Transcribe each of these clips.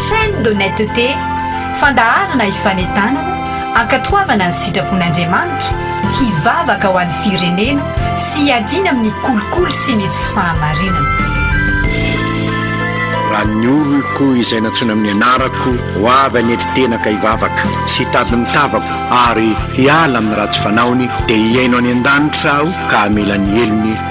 Chaîne d'honnêteté, fandaharana hifanentanana, hankatoavana ny sitrapon'Andriamanitra, hivavaka ho an'ny firenena sy hiadiana amin'ny kolikoly sy ny tsy fahamarinana. Raha ny oloko izay nantsoina amin'ny anarako ho avy hanetry tena ka hivavaka sy hitady ny tavako ary hiala amin'ny ratsy fanaony dia hihaino any an-danitra aho ka hamela ny helony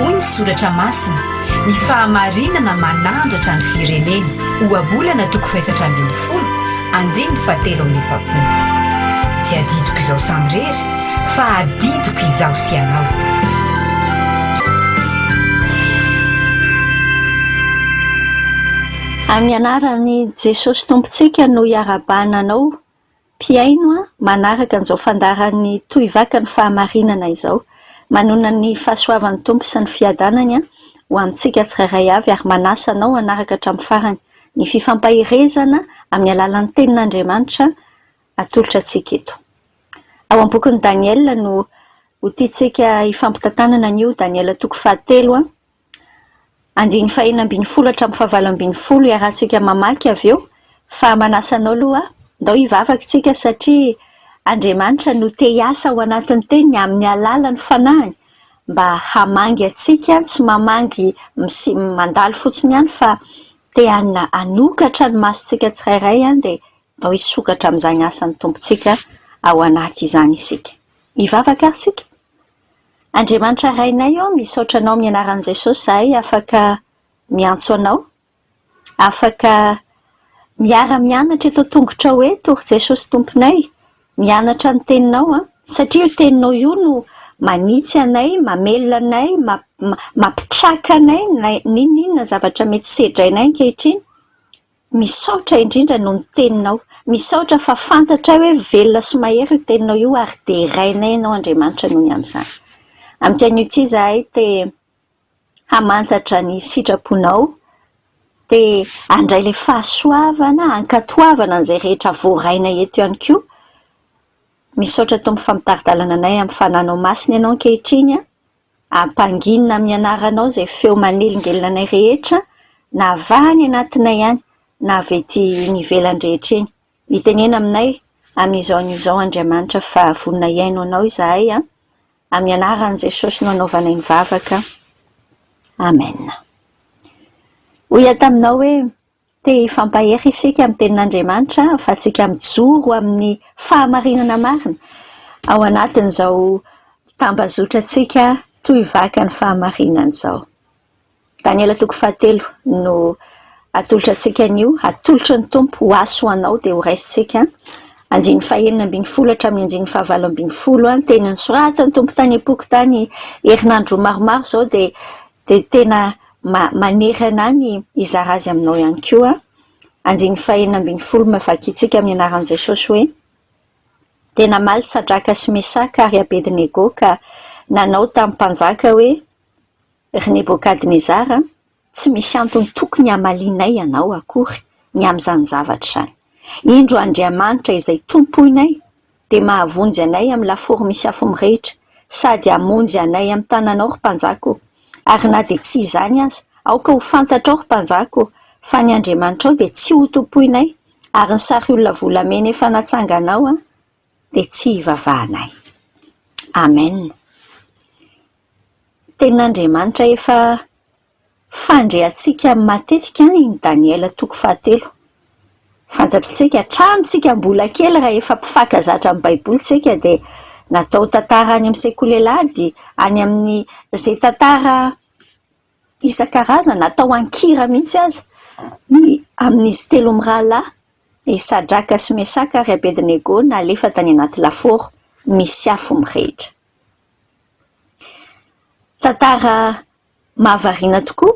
Hoy ny soratra masina, Ny fahamarinana manandratra ny firenena, Ohabolana toko fahefatra ambin'ny folo, andininy fahatelo amby efapolo. Tsy adidiko izaho samirery, fa adidiko izaho sy ianao. Amin'ny anaran'i Jesosy Tompontsika no iarahabana anao mpihaino manaraka an'izao fandaharan'ny tohivakan'ny fahamarinana izao. Manonona ny fahasoavan'ny Tompo sy ny fiadanany ho amintsika tsirairay avy ary manasa anao hanaraka hatramin'ny farany ny fifampaherezana amin'ny alalan'ny Tenin'Andriamanitra atolotra antsika eto. Ao amin'ny bokin'i Daniela no ho tiantsika hifampitantanana anio, Daniela toko fahatelo. Andininy fahenina ambin'ny folo hatramin'ny fahavalo ambin'ny folo iarahantsika mamaky avy eo, fa manasa anao aloha aho, ndao hivavaka isika satria Andriamanitra no te hiasa ao anatin'ny Teniny amin'ny alalan'ny Fanahiny mba hamangy antsika, tsy mamangy misi- mandalo fotsiny ihany fa te han- hanokatra ny masontsika tsirairay dia ndao hisokatra amin'izany asan'ny Tompontsika ao anaty izany isika. Hivavaka ary isika? Andriamanitra Rainay ô, misaotra Anao amin'ny anaran'i Jesosy izahay afaka miantso Anao, afaka miara-mianatra eto an-tongotrao eto ry Jesosy Tomponay, mianatra ny Teninao an, satria io Teninao io no manitsy anay, mamelona anay, mampitraka anay na n'inon'inona zavatra mety sedrainay ankehitriny. Misaotra indrindra noho ny teninao. Misaotra fa fantatray hoe velona sy mahery io teninao io ary derainay ianao Andriamanitra noho ny amin'izany. Amin'ity anio ity izahay te hamantatra ny sitraponao, te handray ilay fahasoavana, hankatoavana an'izay rehetra voarainay eto ihany koa. Misaotra Tompo fa mitari-dalana anay amin'ny fananao masina ianao ankehitriny an. Ampanginina amin'ny anaranao izay feo manelingelina anay rehetra, na avy any anatinay any, na avy ety ivelany rehetra eny. Mitenena aminay amin'izao anio izao, Andriamanitra, fa vonona hihaino anao izahay an! Amin'ny anaran'i Jesosy no anaovanay ny vavaka. Amena. Hoy aho taminao hoe. Te hifampahery isika amin'ny Tenin'Andriamanitra fa tsika mijoro amin'ny fahamarinana marina ao anatin'izao tambazotrantsika toy vaka ny fahamarinana izao. Daniela toko fahatelo no atolotra antsika anio, atolotry ny Tompo ho ahy sy ho anao dia ho raisintsika. Andininy fahenina ambin'ny folo hatramin'ny andininy fahavalo ambin'ny folo, teny nosoratan'ny Tompo tany am-poko tany herinandro maromaro izao dia Dia tena manery anà ny hizara azy aminao ihany koa. Andininy fahenina ambin'ny folo Mavakintsika amin'ny anaran'i Jesosy hoe, Dia namaly Sadraka sy Mesaka ary Abedinego ka nanao tamin'ny mpanjaka hoe, Ry Nebokadnezara, tsy misy antony tokony hamalianay ianao akory ny amin'izany zavatra izany. Indro Andriamanitra izay tompoinay! dia mahavonjy anay amin'ny lafaoro misy afo mirehitra, sady hamonjy anay amin'ny tananao, ry mpanjaka ô! Ary na dia tsy izany aza, aoka ho fantatrao, ry mpanjaka ô, fa ny andriamanitrao dia tsy hotompoinay, ary ny sariolona volamena efa natsanganao dia tsy hivavahanay. Amena. Tenin'Andriamanitra efa Fandreantsika matetika any ny Daniela toko fahatelo. Fantatr'isika hatramin'ny tsika mbola kely raha efa mpifankazatra amin'ny baiboly isika dia natao tantara any amin'ny sekoly alahady, any amin'ny izay tantara isan-karazany atao an-kira mihitsy aza ny amin'izy telo mirahalahy, i Sadraka sy Mesaka ary Abednego nalefa tany anaty lafaoro misy afo mirehitra. Tantara mahavariana tokoa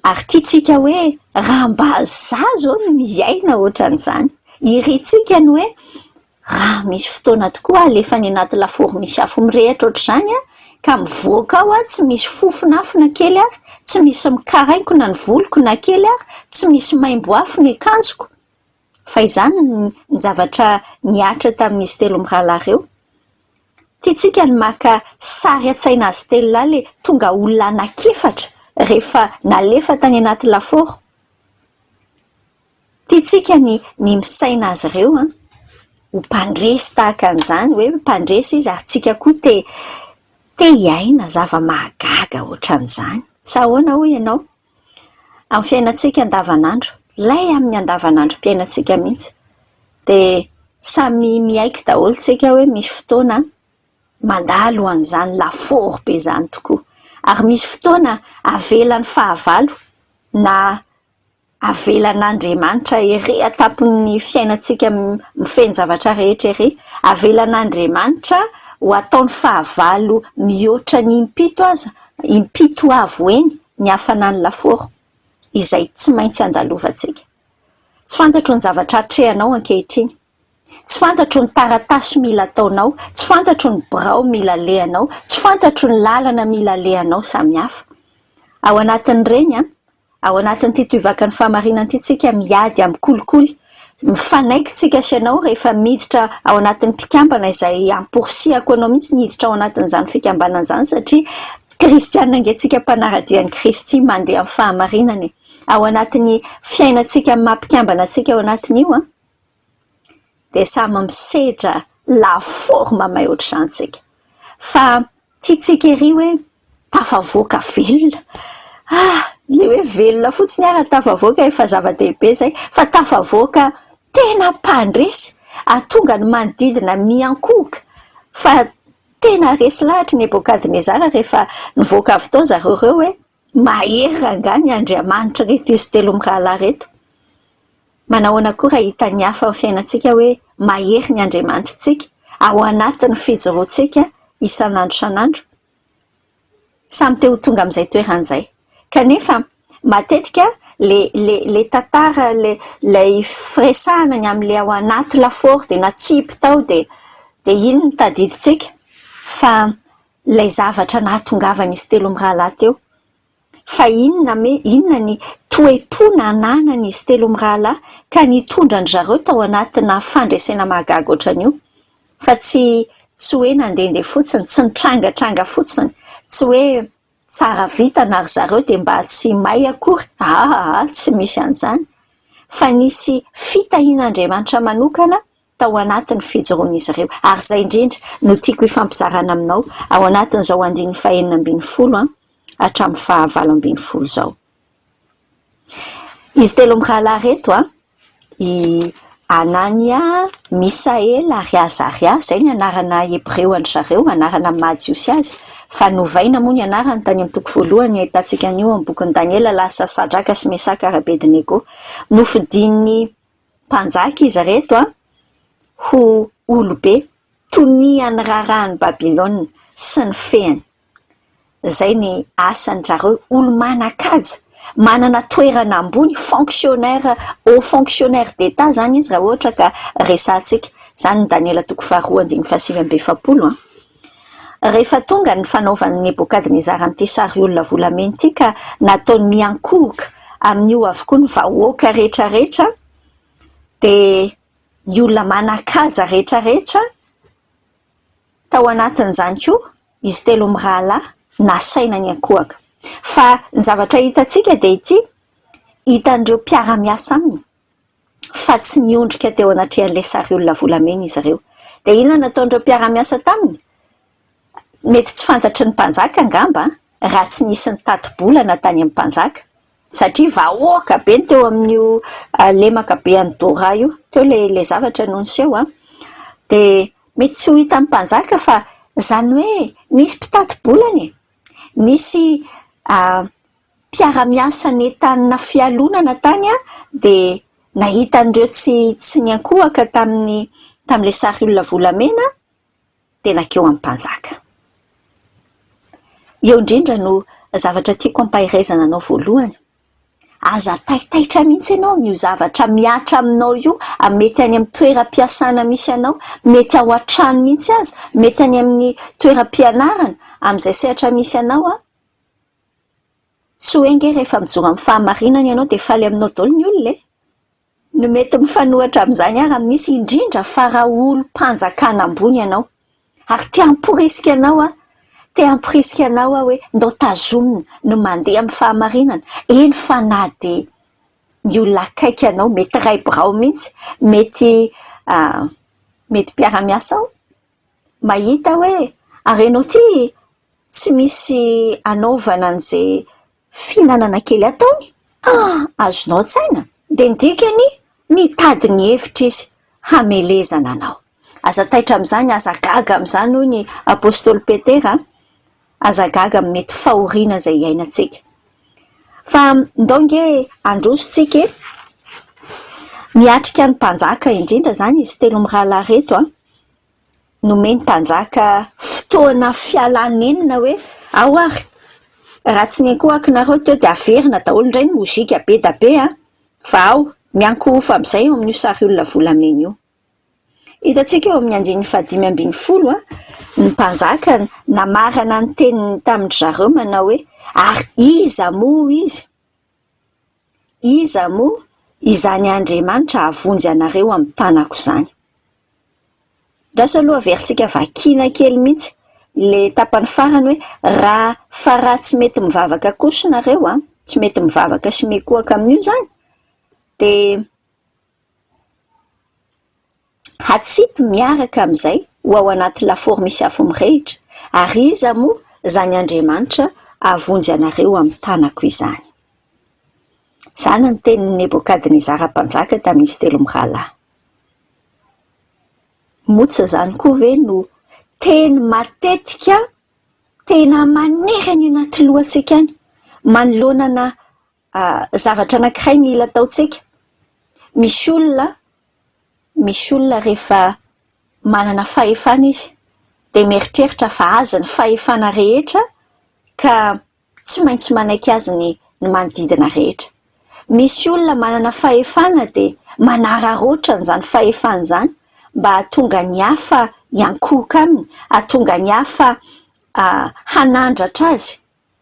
ary tiantsika hoe raha mba izaho izao no hiaina ohatran'izany, irintsika ny hoe raha misy fotoana tokoa aho alefa any anaty lafaoro misy afo mirehitra ohatr'izany aho ka mivoaka ao aho tsy misy fofona afo na kely ary, tsy misy mikaraingo na ny voloko na kely ary, tsy misy maimbo afo ny akanjoko. Fa izany ny zavatra nihatra tamin'izy telo mirahalahy ireo. Tiantsika ny maka sary an-tsaina azy telo lahy ilay tonga olona anankiefatra rehefa nalefa tany anaty lafaoro. Tiantsika ny ny misaina azy ireo an! ho mpandresy tahaka an'izany hoe mpandresy izy ary tsika koa te te hiaina zava-mahagaga ohatran'izany. Sa ahoana hoy ianao? amin'ny fiainantsika andavanandro, lay amin'ny andavanandrom-piainantsika mihitsy, dia samy miaiky daholo isika hoe misy fotoana mandalo an'izany lafaoro be izany tokoa, ary misy fotoana avelan'ny fahavalo na avelan'Andriamanitra ery an-tampon'ny fiainantsika feno zavatra rehetra ery, avelan'Andriamanitra ho ataony fahavalo mihoatra ny impito aza, impito avo heny ny hafanan'ny lafaoro izay tsy maintsy andalovantsika. Tsy fantatro ny zavatra atrehanao ankehitriny. Tsy fantatro ny taratasy mila ataonao, tsy fantatro ny birao mila alehanao, tsy fantatro ny lalana mila alehanao samihafa. Ao anatin'ireny, ao anatin'ity toivaka ny fahamarinana ity, tsika miady amin'ny kolikoly Mifanaiky tsika sy ianao rehefa miditra ao anatin'ny mpikambana izay amporisihako anao mihitsy ny hiditra ao anatin'izany fikambanana izany satria kristiana ange tsika mpanaradia an'i Kristy mandeha amin'ny fahamarinana e! ao anatin'ny fiainantsika amin'ny maha mpikambana antsika ao anatin'io an! dia samy misedra la forme may ohatr'izany tsika fa Tiantsika ery hoe tafavoaka velona. Ah! Ilay hoe velona fotsiny ary tafavoaka efa zava-dehibe izay, fa tafavoaka tena mpandresy, hahatonga ny manodidina miankohoka fa tena resy lahatra i Nebokadnezara rehefa nivoaka avy tao ry zareo ireo hoe. Mahery rangahy ny Andriamanitr'ireto izy telo mirahalahy ireto. Manao ahoana koa raha hitan'ny hafa amin'ny fiainantsika hoe mahery ny Andriamanitritsika ao anatin'ny fijoroantsika isan'andro isan'andro? Samy te ho tonga amin'izay toerana izay. Kanefa, matetika ilay ilay ilay tantara, ilay ilay firesahana ny amin'ilay ao anaty lafaoro dia natsipy tao dia dia iny no tadidintsika fa ilay zavatra nahatongavan'izy telo mirahalahy teo. Fa inona me, inona ny toe-po nananan'izy telo mirahalahy ka nitondra an-dry zareo tao anatina fandresena mahagaga ohatran'io? Fa tsy, tsy hoe nandehandeha fotsiny, tsy nitrangatranga fotsiny, tsy hoe tsara vintana ry zareo dia mba tsy may akory, aa, tsy misy an'izany, fa nisy fitahian'Andriamanitra manokana, tao anatin'ny fijoroan'izy ireo. Ary izay indrindra no tiako hifampizarana aminao ao anatin'izao andininy fahenina ambin'ny folo hatramin'ny fahavalo ambin'ny folo izao. Izy telo mirahalahy ireto, i Anania, Misaela ary Azaria, izay ny anarana hebreo an-dry zareo, anarana amin'ny maha-jiosy azy, fa novaina moa ny anarany tany amin'ny toko voalohany ahitantsika an'io amin'ny bokin'i Daniela, lasa Sadraka sy Mesaka ary Abedinego. Nofidin'ny. mpanjaka izy ireto an! ho olobe tonian'ny raharahan'i Babylona sy ny fehiny. Izay ny asan-dry zareo, olo-manan-kaja, manana toerana ambony, fonctionnaires, hauts fonctionnaires d'Etat izany izy raha ohatra ka resahantsika. Izany ny Daniela toko faharoa andininy fahasivy amby efapolo an! Rehefa tonga ny fanaovan'i Nebokadnezara an'ity sariolona volamena ity ka nataony miankohoka amin'io avokoa ny vahoaka rehetrarehetra, dia ny olona manan-kaja rehetrarehetra, tao anatin'izany koa izy telo mirahalahy, nasaina niankohoka. Fa ny zavatra hitantsika dia ity, hitan'ireo mpiara-miasa aminy fa tsy niondrika teo anatrehan'ilay sary olona volamena izy ireo. Dia inona no nataon'ireo mpiara-miasa taminy? Mety tsy fantatry ny mpanjaka angamba, raha tsy nisy nitati-bolana tany amin'ny mpanjaka, satria vahoaka be ny teo amin'io lemaka be an'i Dora io. Teo ilay zavatra no niseho an! Dia mety tsy ho hitan'ny mpanjaka fa izany hoe nisy mpitati-bolana e! Nisy mpiara-miasa nentanina fialonana tany dia nahita an'ireo tsy tsy niankohoka tamin'ny tamin'ilay sary olona volamena dia nankeo amin'ny mpanjaka. Eo indrindra no zavatra tiako hampaherezana anao voalohany. Aza taitaitra mihitsy ianao amin'io zavatra mihatra aminao io, mety any amin'ny toeram-piasana misy anao, mety ao an-trano mihitsy aza, mety any amin'ny toeram-pianarana, amin'izay sehatra misy anao Tsy hoe ange rehefa mijoro amin'ny fahamarinana ianao dia faly aminao daholo ny olona e! Ny mety mifanohitra amin'izany ary misy indrindra fa raha olom-panjakana ambony ianao ary te hamporisika anao an, te hamporisika anao aho hoe ndao tazomina ny mandeha amin'ny fahamarinana, eny fa na dia ny olona akaiky anao, mety iray birao mihitsy, mety mety mpiara-miasao mahita hoe ary ianao ity Tsy misy anaovana an'izay fihinanana kely ataony? Ah! Azonao an-tsaina? Dia ny dikany, mitady ny hevitra izy hamelezana anao. Aza taitra amin'izany, aza gaga amin'izany, hoy ny apostoly Petera, aza gaga amin'ny mety fahoriana izay iainantsika. Fa ndao ange handroso tsika e! Miatrika ny mpanjaka indrindra izany izy telo mirahalahy ireto an! nomeny mpanjaka fotoana fialany enina hoe ao ary raha tsy nenkohako nareo teo dia averina daholo indray ny mozika be da be an! fa ao miankohofa amin'izay eo amin'io sary olona volamena io hitantsika eo amin'ny andininy fahadimy ambin'ny folo an! ny mpanjaka namarana ny teniny tamin-dry zareo manao hoe ary iza moa izy Iza moa izany Andriamanitra hahavonjy anareo amin'ny tanako izany? Andraso aloha averintsika vakiana kely mihitsy ilay tapany farany hoe, raha fa raha tsy mety mivavaka kosa nareo an, tsy mety mivavaka sy mikohaka amin'io izany dia, Hatsipy miaraka amin'izay ho ao anaty lafaoro misy afo mirehitra, ary iza moa izany Andriamanitra hahavonjy anareo amin'ny tanako izany? Izany ny tenin'i Nebokadnezara mpanjaka tamin'izy telo mirahalahy. Moa tsy izany koa ve no teny matetika tena manery any anaty lohantsika any, manoloana na Zavatra anankiray mila ataontsika, misy olona misy olona rehefa manana fahefana izy dia mieritreritra fa azy ny fahefana rehetra ka tsy maintsy manaiky azy ny manodidina rehetra. Misy olona manana fahefana dia manararaotra an'izany fahefany izany mba hahatonga ny hafa hiankohoka aminy, hahatonga ny hafa hanandratra azy.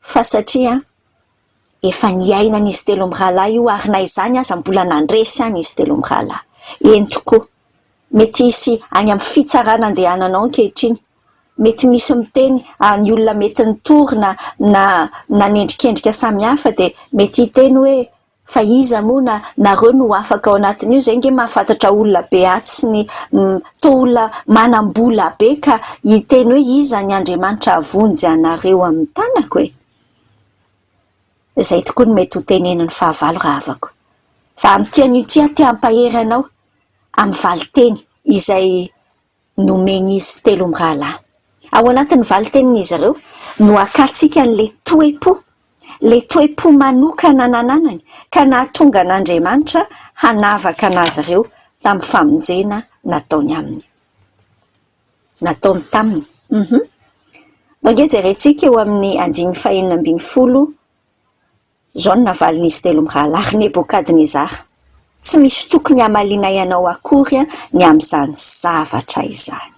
fa satria efa niainan'izy telo mirahalahy io ary na izany aza mbola nandresy any izy telo mirahalahy. Eny tokoa, mety hisy any amin'ny fitsarana andehananao ankehitriny, mety misy miteny ary ny olona mety nitory na nanendrikendrika samihafa dia mety hiteny hoe Fa iza moa na nareo no afaka ao anatin'io, izay nge mahafantatra olona be atsy ny toa olona manam-bola be ka hiteny hoe iza ny Andriamanitra havonjy anareo amin'ny tanako e? Izay tokoa no mety ho tenenin'ny fahavalo rahavako. Fa amin'ity anio ity aho te hampahery anao amin'ny valinteny izay nomen'izy telo mirahalahy. Ao anatin'ny valintenin'izy ireo no akantsika an'ilay toe-po, ilay toe-po manokana nananany ka nahatonga an'Andriamanitra hanavaka an'azy ireo tamin'ny famonjena nataony aminy. Nataony taminy. Um. Nao ange jerentsika eo amin'ny andininy fahenina ambin'ny folo Izao no navalin'izy telo mirahalahy, Ry Nebokadnezara, tsy misy tokony hamalianay anao akory ny amin'izany zavatra izany.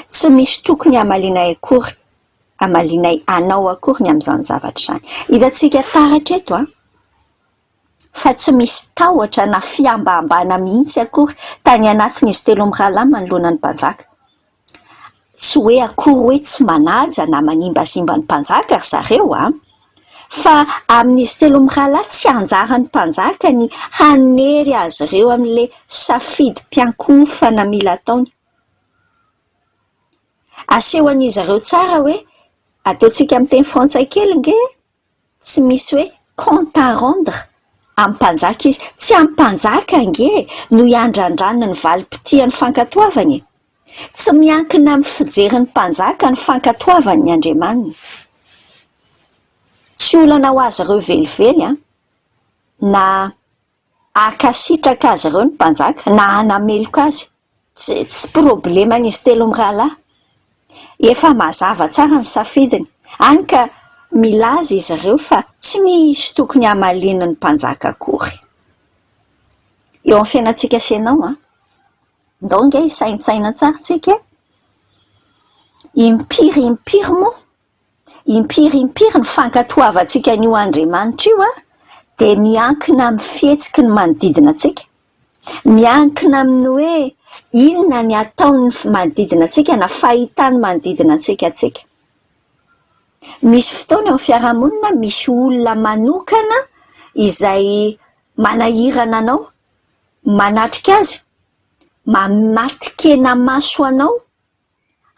Tsy misy tokony hamalianay akory, hamalianay anao akory ny amin'izany zavatra izany. Hitantsika taratra eto fa tsy misy tahotra na fihambahambana mihitsy akory tany anatin'izy telo mirahalahy manoloana ny mpanjaka. Tsy hoe akory hoe tsy manaja na manimbazimba ny mpanjaka ry zareo an! Fa amin'izy telo mirahalahy tsy anjaran'ny mpanjaka ny hanery azy ireo amin'ilay safidim-piankohofana mila ataony. Asehon'izy ireo tsara hoe, ataontsika amin'ny teny frantsay kely ange e! Tsy misy hoe compte à rendre amin'ny mpanjaka izy. Tsy amin'ny mpanjaka ange no iandrandraniny ny valim-potia ny fankatoavany e! Tsy miankina amin'ny fijerin'ny mpanjaka ny fankatoavany ny andriamaniny. Tsy olana ho azy ireo velively an! Na Hankasitraka azy ireo ny mpanjaka na hanameloka azy, tsy tsy probleman'izy telo mirahalahy. Efa mazava tsara ny safidiny, hany ka milaza izy ireo fa tsy misy tokony hamaliany ny mpanjaka akory. Eo amin'ny fiainantsika sy ianao an! Ndao ange hisaintsaina tsara tsika e! Impiry impiry moa? Impiry impiry ny fankatoavantsika an'io Andriamanitra io dia miankina amin'ny fihetsiky ny manodidina antsika. Miankina amin'ny hoe inona ny ataon'ny manodidina antsika na fahitany manodidina antsika antsika. Misy fotoana eo amin'ny fiarahamonina misy olona manokana izay manahirana anao, manatrika azy, matin-kena maso anao.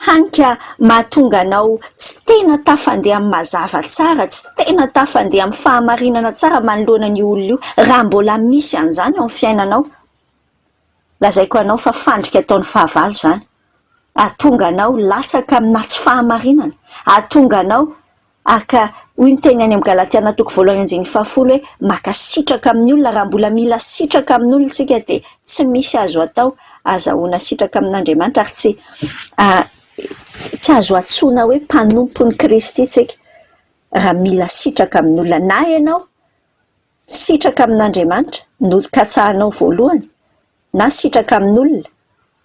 hany ka mahatonga anao tsy tena tafandeha amin'ny mazava tsara, tsy tena tafandeha amin'ny fahamarinana tsara manoloana an'io olona io, raha mbola misy an'izany ao amin'ny fiainanao. Lazaiko anao fa fandrika ataon'ny fahavalo izany, hahatonga anao latsaka aminà tsy fahamarinana, hahatonga anao... Ary ka hoy ny teny any amin'ny Galatiana toko voalohany andininy fahafolo hoe, Mankasitraka amin'ny olona, raha mbola mila sitraka amin'olona isika dia tsy misy azo atao, azahoana sitraka amin'Andriamanitra ary tsy tsy azo antsoina hoe mpanompon'i Kristy isika raha mila sitraka amin'olona. Na ianao sitraka amin'Andriamanitra no katsahanao voalohany na sitraka amin'olona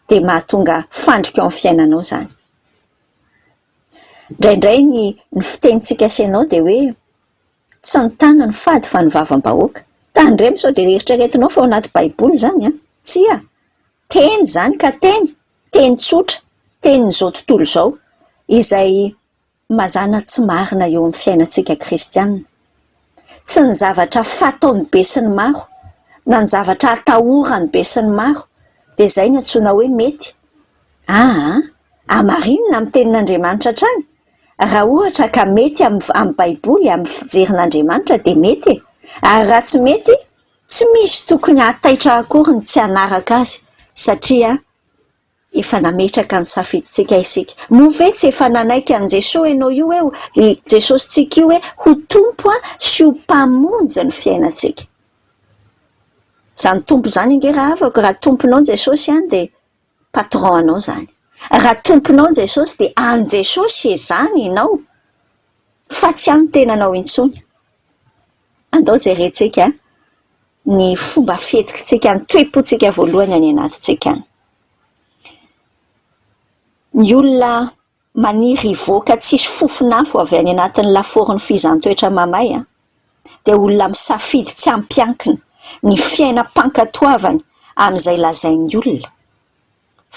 dia mahatonga fandrika ao amin'ny fiainanao izany. Indraindray ny ny fitenintsika asehonao dia hoe tsy ny tana no fady fa ny vavam-bahoaka. Tandremo sao dia eritreretinao fa ao anaty baiboly izany an! Tsia! Teny izany ka teny, teny tsotra, tenin'izao tontolo izao izay mazàna tsy marina eo amin'ny fiainantsika kristianina. sy ny zavatra fataon'ny besinimaro na ny zavatra atahoran'ny besinimaro dia izay no antsoina hoe mety? aa! hamarinina amin'ny tenin'Andriamanitra hatrany? raha ohatra ka mety amin'ny baiboly amin'ny fijerin'Andriamanitra dia mety e! ary raha tsy mety tsy misy tokony hahataitra akory ny tsy hanaraka azy satria Efa nametraka ny safidintsika isika. Moa ve tsy efa nanaiky an'i Jesoa ianao io eo, i Jesosintsika io hoe ho Tompo sy ho Mpamonjy ny fiainantsika? Izany Tompo izany ange rahavako, raha Tomponao Jesosy an, dia Patron anao izany. Raha Tomponao Jesosy dia an'i Jesosy izany ianao, fa tsy an'ny tenanao intsony. Andao jerentsika ny fomba fihetsikitsika ny toe-pontsika voalohany any anatintsika any. Ny olona maniry hivoaka tsisy fofon'afo avy any anatin'ny lafaoron'ny fihizan-toetra mamay dia olona misafidy tsy ampiankina ny fiainam-pankatoavany amin'izay lazain'ny olona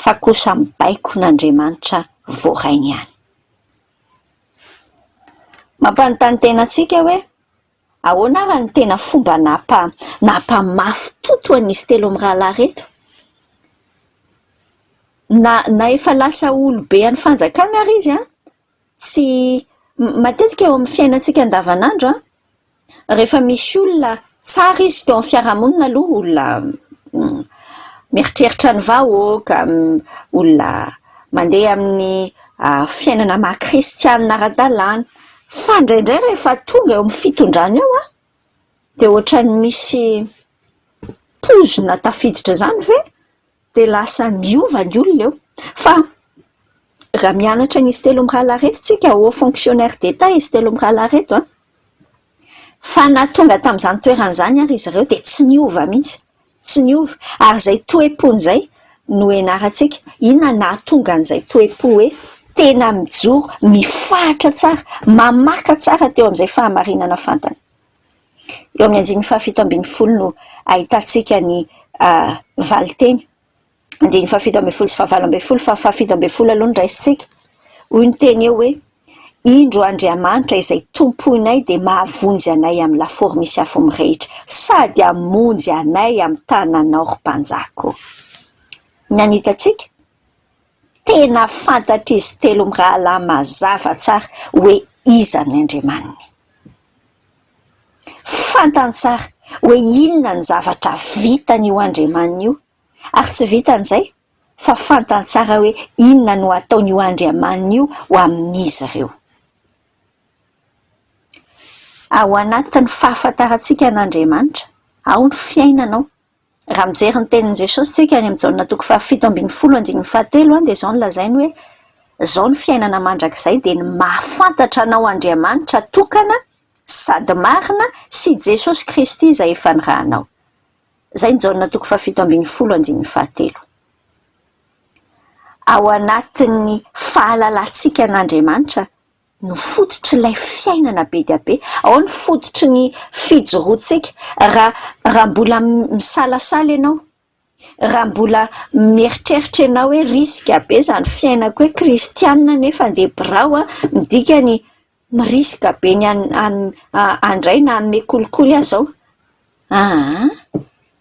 fa kosa mibaiko n'Andriamanitra voarainy ihany. Mampanontany tena antsika hoe, ahoana ary no tena fomba nampamafy totoa an'izy telo mirahalahy ireto ? Na na efa lasa olobe any fanjakana ary izy, tsy matetika eo amin'ny fiainantsika andavanandro. rehefa misy olona tsara izy teo amin'ny fiarahamonina aloha olona mieritreritra ny vahoaka, olona mandeha amin'ny fiainana maha kristianina ara-dalàna. Fa indraindray rehefa tonga eo amin'ny fitondrana eo an, dia ohatran'ny misy poizina tafiditra izany ve? dia lasa niova ny olona eo fa raha mianatra an'izy telo mirahalahy ireto isika, hauts fonctionnaires d'Etat izy telo mirahalahy ireto an! fa na tonga tamin'izany toerana izany ary izy ireo dia tsy niova mihitsy, tsy niova, ary izay toe-pony izay no hianarantsika, inona no nahatonga an'izay toe-po hoe tena mijoro, mifahatra tsara, mamaka tsara teo amin'izay fahamarinana fantany. Eo amin'ny andininy fahafito ambin'ny folo no ahitantsika ny valinteny. Andininy fahafito ambin'ny folo sy fahavalo ambin'ny folo fa ny fahafito ambin'ny folo aloha no raisintsika. Hoy ny teny eo hoe, Indro Andriamanitra izay tompoinay dia mahavonjy anay amin'ny lafaoro misy afo mirehitra, sady hamonjy anay amin'ny tananao ry mpanjaka ô. Inona no hitantsika? Tena fantatr'izy telo mirahalahy mazava tsara hoe iza ny andriamaniny. Fantany tsara hoe inona ny zavatra vitan'io andriamaniny io, ary tsy vitan'ny izay fa fantany tsara hoe inona no ataon'io andriamaniny io ho amin'izy ireo. Ao anatin'ny fahafantarantsika an'Andriamanitra ao ny fiainanao Raha mijery ny tenin'i Jesosy isika any amin'ny Jaona toko fahafito ambin'ny folo andininy fahatelo dia izao no lazainy hoe, Izao ny fiainana mandrakizay dia ny mahafantatra anao Andriamanitra tokana sady marina sy Jesosy Kristy izay efa nirahanao. Izay ny Jaona toko fahafito ambin'ny folo andininy fahatelo. Ao anatin'ny fahalalantsika an'Andriamanitra no fototr'ilay fiainana be dia be, ao ny fototry ny fijoroantsika. Raha raha mbola misalasala ianao, raha mbola mieritreritra ianao hoe risika be izany fiainako hoe kristianina nefa andeha birao aho, midika ny mi-risque be ny handray na hanome kolikoly aza aho. Aa!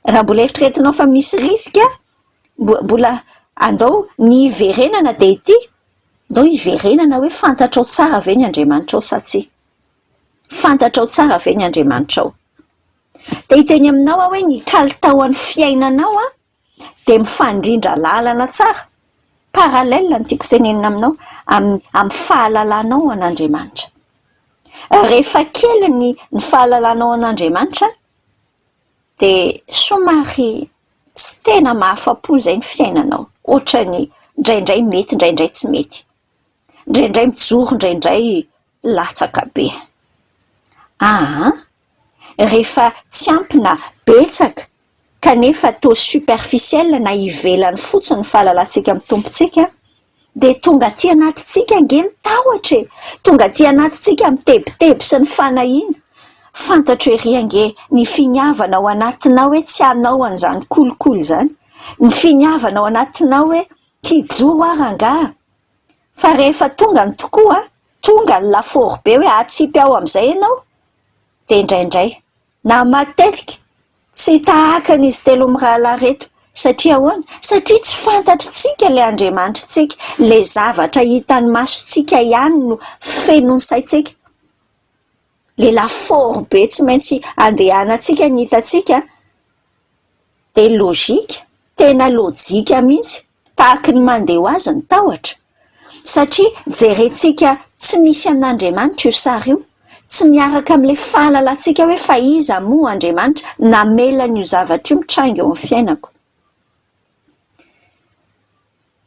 raha mbola eritreretinao fa misy risika, mbola andao ny hiverenana dia ity. Ndao hiverenana hoe fantatrao tsara ve ny Andriamanitrao sa tsia? Fantatrao tsara ve ny Andriamanitrao? Te hiteny aminao aho hoe ny kalitaon'ny fiainanao dia mifandrindra lalana tsara, parallèle ny tiako tenenina aminao, amin'ny amin'ny fahalalanao an'Andriamanitra. Rehefa kely ny ny fahalalanao an'Andriamanitra, dia somary tsy tena mahafa-po izay ny fiainanao, ohatran'ny indraindray mety indraindray tsy mety, indraindray mijoro indraindray latsaka be. Aa! rehefa tsy ampy na betsaka kanefa toa superficiel na ivelany fotsiny ny fahalalantsika amin'ny Tompontsika, dia tonga aty anatintsika ange ny tahotra e! Tonga aty anatintsika ny tebiteby sy ny fanahiana. Fantatro ery ange ny finiavana ao anatinao hoe tsy hanao an'izany kolikoly izany, ny finiavana ao anatinao hoe hijoro aho rangaha. Fa rehefa tonga ny tokoa, tonga ny lafaoro be hoe hatsipy ao amin'izay ianao, dia indraindray. Na matetika tsy tahaka an'izy telo mirahalahy reto. Satria ahoana? Satria tsy fantatritsika ilay Andriamanitritsika. Ilay zavatra hitan'ny masontsika ihany no feno ny saintsika. Ilay lafaoro be tsy maintsy andehanantsika ny hitantsika. dia lojika, tena lojika mihitsy, tahaky ny mandeha ho azy ny tahotra, satria jerentsika tsy misy an'Andriamanitra io sary io, tsy miaraka amin'ilay fahalalantsika hoe fa iza moa Andriamanitra namela an'io zavatra io mitranga eo amin'ny fiainako.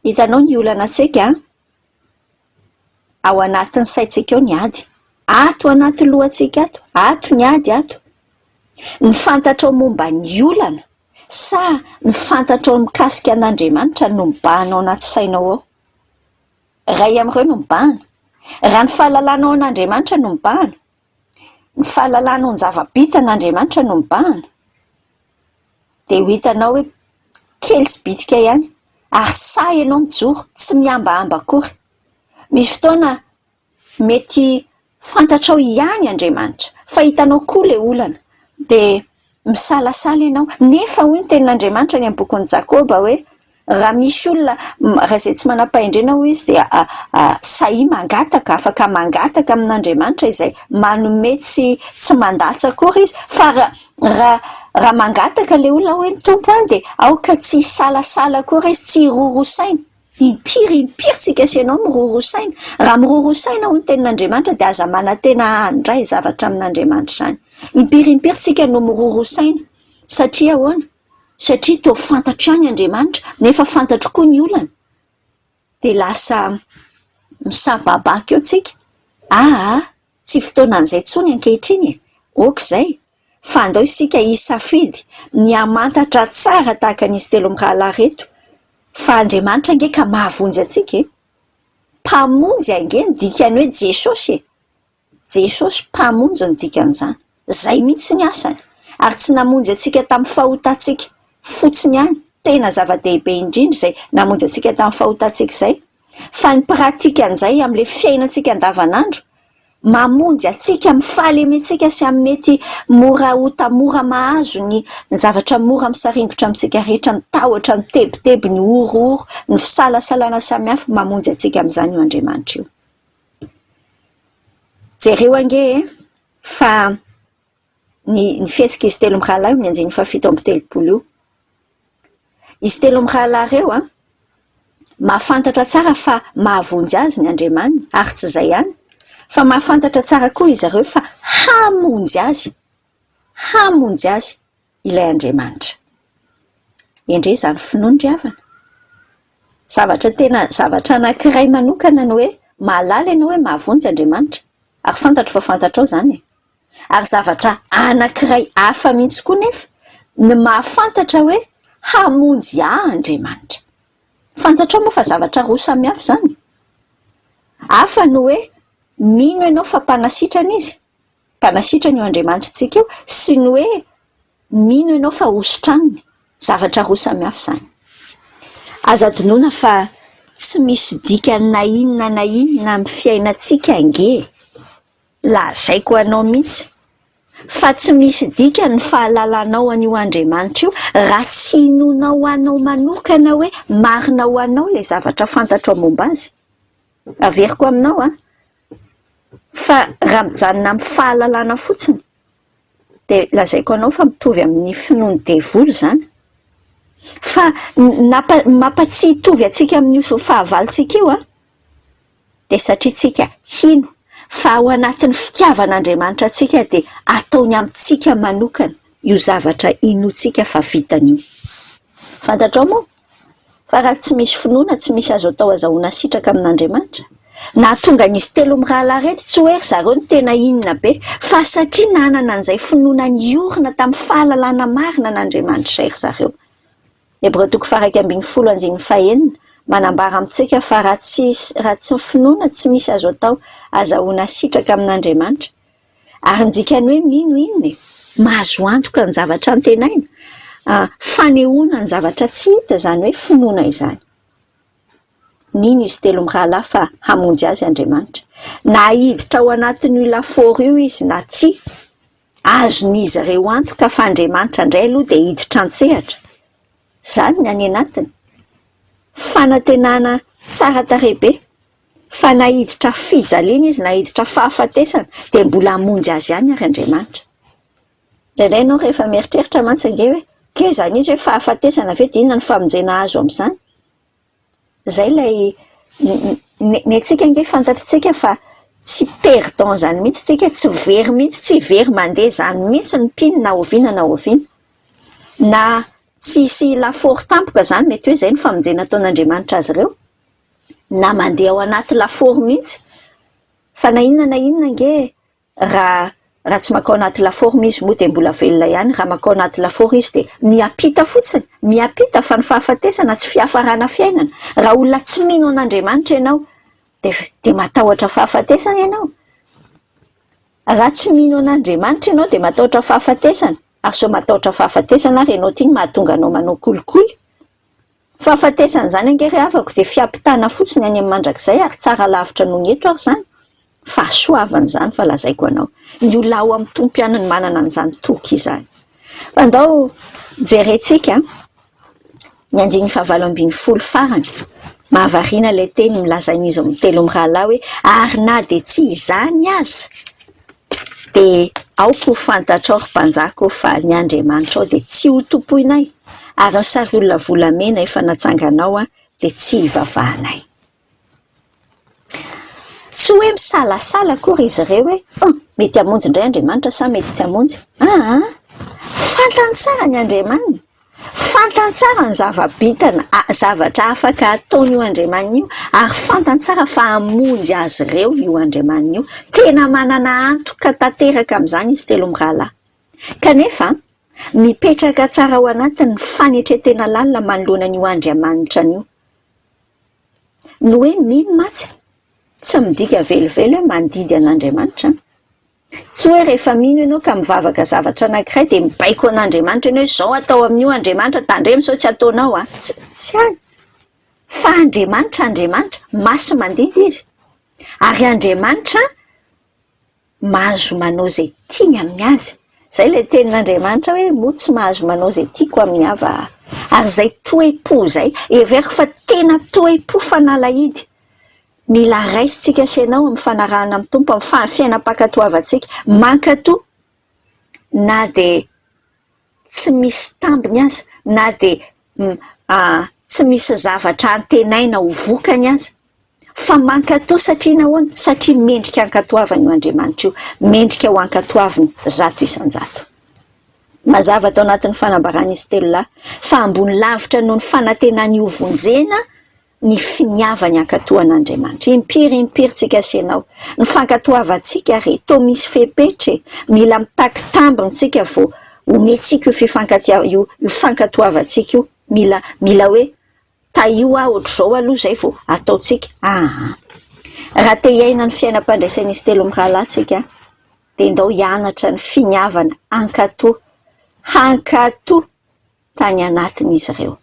Hitanao ny olana antsika an! ao anatin'ny saintsika ao ny ady. Ato anaty lohantsika ato, ato ny ady ato. Ny fantatrao momba ny olana sa ny fantatrao mikasika an'Andriamanitra no mibahana ao anaty sainao ao? Iray amin'ireo no mibahana. Raha ny fahalalana ao an'Andriamanitra no mibahana, Ny fahalalana ho ny zava-bita an' Andriamanitra no mibahana, dia ho hitanao hoe kely sy bitika ihany, ary sahy ianao mijoro, tsy mihambahamba akory. Misy fotoana mety fantatrao ihany Andriamanitra, fa hitanao koa ilay olana, dia Misalasala ianao. Nefa hoy ny tenin'Andriamanitra any amin'ny bokin'i Jakoba hoe, Raha misy olona, raha izay tsy manam-pahendrena hoy izy dia sahia mangataka, afaka mangataka amin'Andriamanitra izay manome tsy tsy mandatsa akory izy, fa raha raha mangataka ilay olona hoe, Tompo an dia aoka tsy hisalasala akory izy, tsy hiroro saina. Impiry impiry tsy ikasenao miroro saina? Raha miroro saina hoy ny tenin'Andriamanitra dia aza manantena handray zavatra amin'Andriamanitra izany. Impiry impiry tsika no miroro saina? Satria ahoana? Satria toa fantatro ihany Andriamanitra nefa fantatro koa ny olana. Dia lasa misababaka eo tsika. Aa, tsy fotoanan'izay intsony ankehitriny e! Ok izay. fa andao isika hisafidy ny hamantatra tsara tahaka an'izy telo mirahalahy ireto fa Andriamanitra ange ka mahavonjy antsika e! Mpamonjy ange ny dikany hoe Jesosy e! Jesosy Mpamonjy no dikan'izany. Izay mihitsy ny asany. Ary tsy namonjy antsika tamin'ny fahotantsika fotsiny ihany, tena zava-dehibe indrindra izay namonjy antsika tamin'ny fahotantsika izay, fa ny pratique an'izay amin'ilay fiainantsika andavanandro, mamonjy antsika, mifaly amintsika sy amin'ny mety mora ho tanora mahazo ny ny zavatra mora misaringotra amintsika rehetra, ny tahotra, ny tebiteby, ny horohoro, ny fisalasalana samihafa, mamonjy antsika amin'izany io Andriamanitra io. Jereo ange e! fa. ny fihetsik'izy telo mirahalahy io amin'ny andininy fahafito amby telopolo io. Izy telo mirahalahy ireo mahafantatra tsara fa mahavonjy azy ny Andriamaniny, ary tsy izay ihany fa mahafantatra tsara koa izy ireo fa hamonjy azy, hamonjy azy ilay Andriamanitra. Endrey izany finoany ry havana! Zavatra tena, zavatra anankiray manokana ny hoe mahalala ianao hoe mahavonjy Andriamanitra, ary fantatro fa fantatrao izany e! Ary zavatra anankiray hafa mihitsy koa nefa ny mahafantatra hoe hamonjy ahy Andriamanitra. Fantatrao moa fa zavatra roa samy hafa izany? Hafa ny hoe mino ianao fa mpanasitrana Izy, mpanasitrana io Andriamanitritsika io, sy ny hoe mino ianao fa hositraniny. Zavatra roa samy hafa izany. Aza adinoina fa tsy misy dikany na inona na inona amin'ny fiainantsika ange e! Lazaiko anao mihitsy fa tsy misy dikany ny fahalalanao an'io Andriamanitra io raha tsy inoanao anao manokana hoe marina ho anao ilay zavatra fantatrao momba azy. Averiko aminao an, fa raha mijanona amin'ny fahalalana fotsiny dia lazaiko anao fa mitovy amin'ny finoan'ny devoly izany. Fa ny mampatsiahy hitovy antsika amin'io fahavalontsika io an, dia satria tsika hino fa ao anatin'ny fitiavan'Andriamanitra antsika dia ataony amintsika manokana io zavatra inoantsika fa vitany io. Fantatrao moa fa raha tsy misy finoana tsy misy azo atao azahoana sitraka amin'Andriamanitra? Nahatonga an'izy telo mirahalahy ireto tsy hoe ry zareo no tena inona be fa satria nanana an'izay finoana niorina tamin'ny fahalalana marina an'Andriamanitra izay ry zareo. Hebreo toko faha-iraika ambin'ny folo andininy fahenina, manambara amintsika fa raha tsy raha tsy ny finoana tsy misy azo atao azahoana hasitraka amin'Andriamanitra. Ary ny dikan'ny hoe mino inona e? Mahazo antoka ny zavatra antenaina, ah, fanehoana ny zavatra tsy hita izany hoe finoana izany. Nino izy telo mirahalahy fa hamonjy azy Andriamanitra, na hiditra ao anatin'io lafaoro io izy na tsia. Azon'izy ireo antoka fa Andriamanitra indray aloha dia hiditra an-tsehatra, izany ny any anatiny. Fanantenana tsara tarehy be, fa na hiditra fijaliana izy na hiditra fahafatesana dia mbola hamonjy azy ihany àry Andriamanitra. Indraindray ianao rehefa mieritreritra mantsy ange hoe, Kay izany izy hoe fahafatesana ve dia inona no famonjena azo amin'izany? Izay ilay, ny antsika ange fantatritsika fa tsy perdant izany mihitsy tsika, tsy very mihitsy, tsy very mandeha izany mihitsy ny mpino na oviana na oviana. Na tsy hisy lafaoro tampoka izany, mety hoe izay no famonjena ataon'Andriamanitra azy ireo, na mandeha ao anaty lafaoro mihitsy, fa na inona na inona ange, Raha raha tsy mankao anaty lafaoro izy moa dia mbola velona ihany, raha mankao anaty lafaoro izy dia miampita fotsiny, miampita fa ny fahafatesana tsy fiafarana fiainana. Raha olona tsy mino an'Andriamanitra ianao dia dia matahotra fahafatesana ianao. Raha tsy mino an'Andriamanitra ianao dia matahotra fahafatesana, ary sao matahotra fahafatesana ary ianao ty no mahatonga anao manao kolikoly. Fahafatesan'izany ange ry havako dia fiampitana fotsiny any amin'ny mandrakizay ary tsara lavitra noho ny eto ary izany. Fahasoavana izany fa lazaiko anao. Ny olona ao amin'ny Tompo ihany no manana an'izany toky izany. Fa ndao jerentsika ny andininy fahavalo ambin'ny folo farany. Mahavariana ilay teny milazain'izy mitelo mirahalahy hoe ary na dia tsy izany aza. Dia aoka ho fantatrao, ry mpanjaka ô, fa ny andriamanitrao dia tsy hotompoinay, ary ny sariolona volamena efa natsanganao dia tsy hivavahanay. Tsy hoe misalasala akory izy ireo hoe, Huh! Mety hamonjy indray Andriamanitra sa mety tsy hamonjy? Aa! Fantany tsara ny Andriamaniny. Fantany tsara ny zava-bitany, zavatra afaka ataon'io Andriamaniny io, ary fantany tsara fa hamonjy azy ireo io Andriamaniny io. Tena manana antoka tanteraka amin'izany izy telo mirahalahy. Kanefa, mipetraka tsara ao anatiny ny fanetren-tena lalina manoloana an'io Andriamanitrany io. Ny hoe mino mantsy tsy midika velively hoe mandidy an'Andriamanitra. Tsy hoe rehefa mino ianao ka mivavaka zavatra anankiray dia mibaiko an'Andriamanitra ianao hoe izao atao amin'io Andriamanitra, tandremo sao tsy ataonao an! Tsy any! Fa Andriamanitra Andriamanitra, masi-mandimby Izy. Ary Andriamanitra mahazo manao izay tiany amin'ny Azy. Izay ilay tenin'Andriamanitra hoe, moa tsy mahazo manao izay tiako amin'ny Ava aho. Ary izay toe-po izay, heveriko fa tena toe-po fanalahidy. Mila raisintsika sy ianao amin'ny fanarahana amin'ny Tompo amin'ny fahafiainam-pankatoavantsika. Mankatò na dia tsy misy tambiny aza, na dia tsy misy zavatra antenaina ho vokany aza. Fa mankatò satria nahoana? Satria mendrika hankatoavana io Andriamanitra io. Mendrika ho ankatoavina zato isan-jato. Mazava tao anatin'ny fanambaran'izy telo lahy fa ambony lavitra noho ny fanantenany hovonjena ny finiavany hankatohana Andriamanitra. Impiry impiry tsy kasenao ny fankatoavantsika re, toa misy fepetra e! Mila mitaky tambiny tsika vao omentsika io fifankatia, io fankatoavantsika io, mila, mila hoe tahio aho ohatr'izao aloha izay vao ataontsika aa! Raha te hiaina ny fiainam-pandraisan'izy telo mirahalahy tsika dia ndao hianatra ny finiavana hankatoa, hankatoa! tany anatiny izy ireo.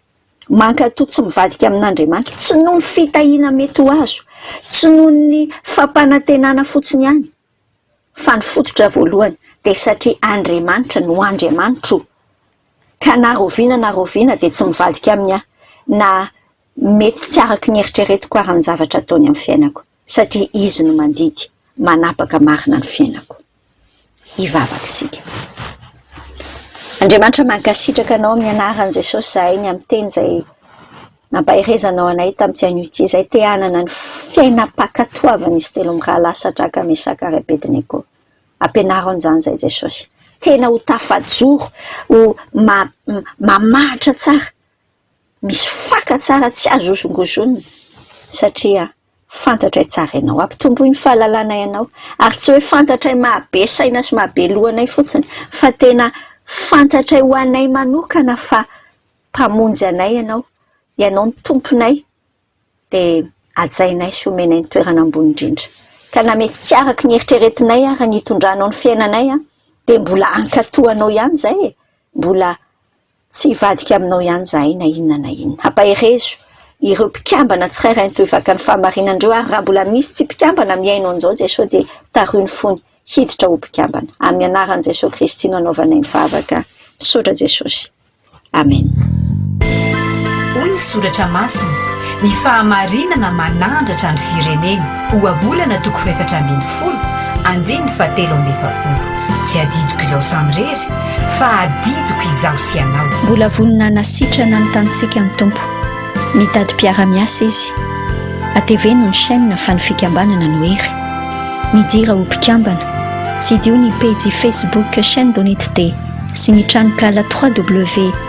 Mankatò tsy mivadika amin'Andriamanitra, tsy noho ny fitahiana mety ho azo, tsy noho ny fampanantenana fotsiny ihany, fa ny fototra voalohany dia satria Andriamanitra no Andriamanitro, ka na rahoviana na rahoviana dia tsy mivadika aminy aho, na mety tsy araka ny eritreretiko ary ny zavatra ataony amin'ny fiainako. satria Izy no mandidy, manapaka marina ny fiainako. Hivavaka isika. Andriamanitra mankasitraka Anao amin'ny anaran'i Jesosy izahay ny amin'ny teny izay nampaherezanao anay tamin'ity anio ity izay te hanana ny fiainam-pankatoavan'izy telo mirahalahy Sadraka, Mesaka ary Abednego. Ampianaro an'izany izahay Jesosy. Tena ho tafajoro, ho ma, mamahatra tsara. misy faka tsara tsy azo hozongozonina satria fantatray tsara ianao. Hampitomboy ny fahalalanay anao ary tsy hoe fantatray mahabe saina sy mahabe loha anay fotsiny fa tena fantatray ho anay manokana fa Mpamonjy anay ianao, ianao no Tomponay dia hajainay sy homenay ny toerana ambony indrindra. Ka na mety tsy araka ny eritreretinay ara ny hitondranao ny fiainanay dia mbola hankatoa anao ihany izay e! Mbola Tsy hivadika aminao ihany izahay na inona na inona. Ampaherezo ireo mpikambana tsirairay ny tohivaka ny fahamarinan'ireo ary raha mbola misy tsy mpikambana mihaino an'izao Jesoa dia tario ny fony hiditra ho mpikambana. Amin'ny anaran'i Jesoa Kristy no anaovanay ny vavaka. Misaotra Jesosy. Amen. Hoy ny Soratra Masina, Ny fahamarinana manandratra ny firenena. Ohabolana toko fahefatra ambin'ny folo, andininy fahatelo amby efapolo. Tsy adidiko izaho samirery, fa adidiko izaho sy ianao. Mbola vonona hanasitrana ny tanintsika ny Tompo. Mitady mpiara-miasa Izy. Hateveno ny chaîne fa ny fikambanana no hery. Midira ho mpikambana. Tsidiho ny pejy Facebook Chaîne Donitd sy ny tranonkala www.